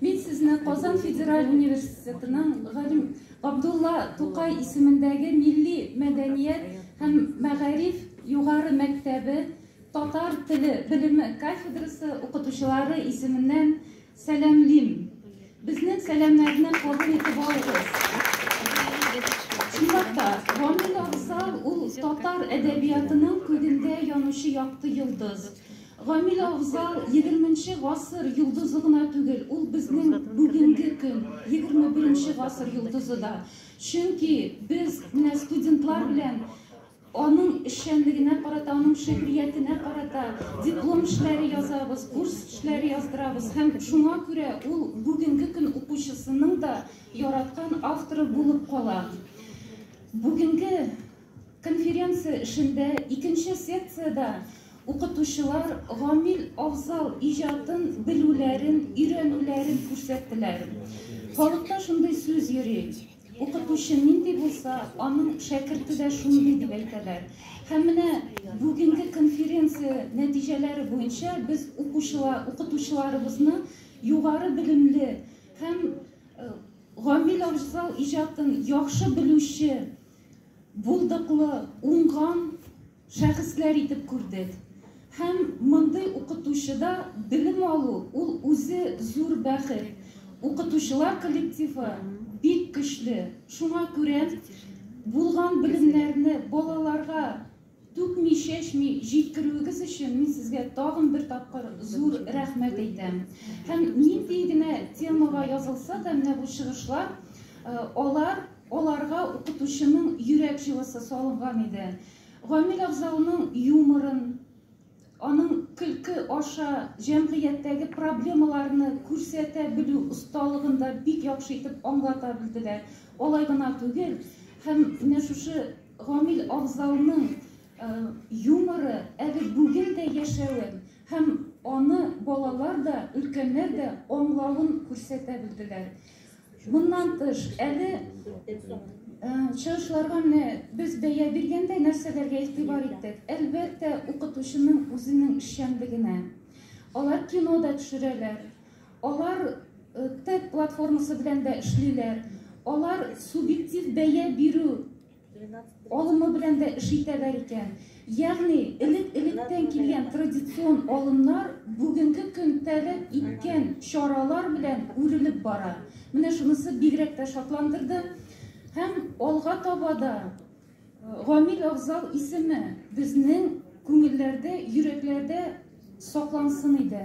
Мин сезне Казан федераль университетының галим Габдулла Тукай исемендәге милли мәдәният һәм мәгариф югары мәктәбе татар теле белеме кафедрасы укытучылары исеменнән сәламлим. Безнең сәламнәрне кабул итеп алыгыз. Чынлап та, Гамил Авзал ул татар әдәбиятының күгендә янучы якты йолдыз. Гамил Авзал егерменче гасыр йолдызы гына түгел, ул безнең бүгенге көн, егерме беренче гасыр йолдызы да. Чөнки без менә студентлар белән аның эшчәнлегенә карата, аның шигъриятенә карата диплом эшләре язабыз, курс эшләре яздырабыз һәм шуңа күрә ул бүгенге көн укучысының да яраткан авторы булып кала. Бүгенге Конференция эшендә икенче секциядә укытучылар гамил Афзал иҗатын белүләрен, өйрәнүләрен күрсәттеләр. Халыкта шундый сүз йөри, Укытучы нинди булса, аның шәкерте дә шундый, дип әйтәләр. Һәм менә бүгенге конференция нәтиҗәләре буенча без укучылар, укытучыларыбызны югары белемле һәм гамил Афзал иҗатын яхшы белүче, булдыклы, уңган шәхесләр итеп күрдек. Һәм мондый укытучыда белем алу, ул үзе зур бәхет. Укытучылар коллективы бик көчле, шуңа күрә булган белемнәрне балаларга Түкми-чәчми җиткерүегез өчен мин сезгә тагын бер тапкыр зур рәхмәт әйтәм. Һәм нинди генә темага язылса да менә бу чыгышлар, алар, аларга укытучының йөрәк җылысы салынган иде. Гамил Авзалның юморын, Аның көлке аша җәмгыятьтәге проблемаларны күрсәтә белү осталыгын да бик яхшы итеп аңлата белделәр. Алай гына түгел, һәм менә шушы Гамил абзауның юморы әле бүген дә яшәвен һәм аны балалар да, өлкәннәр дә аңлавын күрсәтә белделәр. Моннан тыш, әле чыгышларга менә без бәя биргәндә нәрсәләргә игътибар иттек? Әлбәттә, укытучының үзенең эшчәнлегенә. Алар кино да төшерәләр, алар ТЭД платформасы белән дә эшлиләр, алар субъектив бәя бирү Алымы белән дә эш итәләр икән. Ягъни, элек-электән килгән традицион алымнар бүгенге көн таләп иткән чаралар белән үрелеп бара. Менә шунысы бигрәк тә шатландырды. Һәм алга таба да Гамил Авзал исеме безнең күңелләрдә, йөрәкләрдә саклансын иде.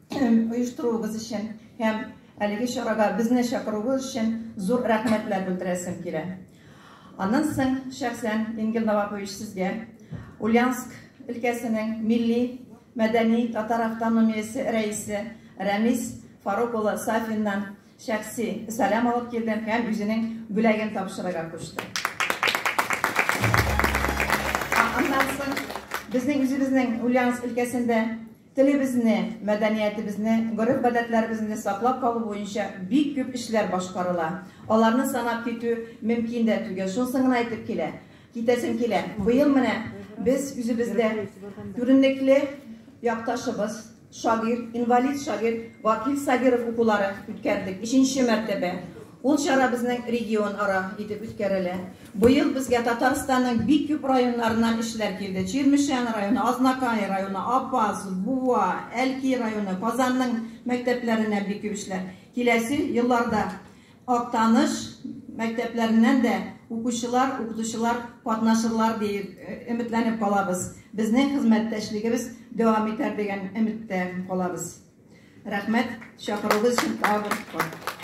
оештыруыгыз өчен һәм әлеге чарага безне чакыруыгыз өчен зур рәхмәтләр белдерәсем килә. Аннан соң шәхсән Ингел Новакович сезгә Ульяновск өлкәсенең милли мәдәни татар автономиясе рәисе Рәмис Фарук улы Сафиннан шәхси сәлам алып килдем һәм үзенең бүләген тапшырырга кушты. Аннан соң безнең үзебезнең Ульяновск өлкәсендә Телебезне, мәдәниятебезне, гореф-гадәтләребезне саклап калу буенча бик күп эшләр башкарыла. Аларны санап китү мөмкин дә түгел. Шунысын гына әйтеп килә, китәсем килә, быел менә без үзебездә күренекле якташыбыз, шагыйрь, инвалид шагыйрь Вакил Сабиров укулары үткәрдек, өченче мәртәбә. Ул чара безнең регионара итеп үткәрелә. Быел безгә Татарстанның бик күп районнарыннан эшчеләр килде. Чирмешән районы, Азнакай районы, Апас, Буа, Әлки районы, Казанның мәктәпләреннән бик күп эшчеләр. Киләсе елларда Актаныш мәктәпләреннән дә укучылар, укытучылар катнашырлар диеп өметләнеп калабыз. Безнең хезмәттәшлегебез дәвам итәр дигән өметтә калабыз. Рәхмәт, чакыруыгыз өчен тагын бер кат.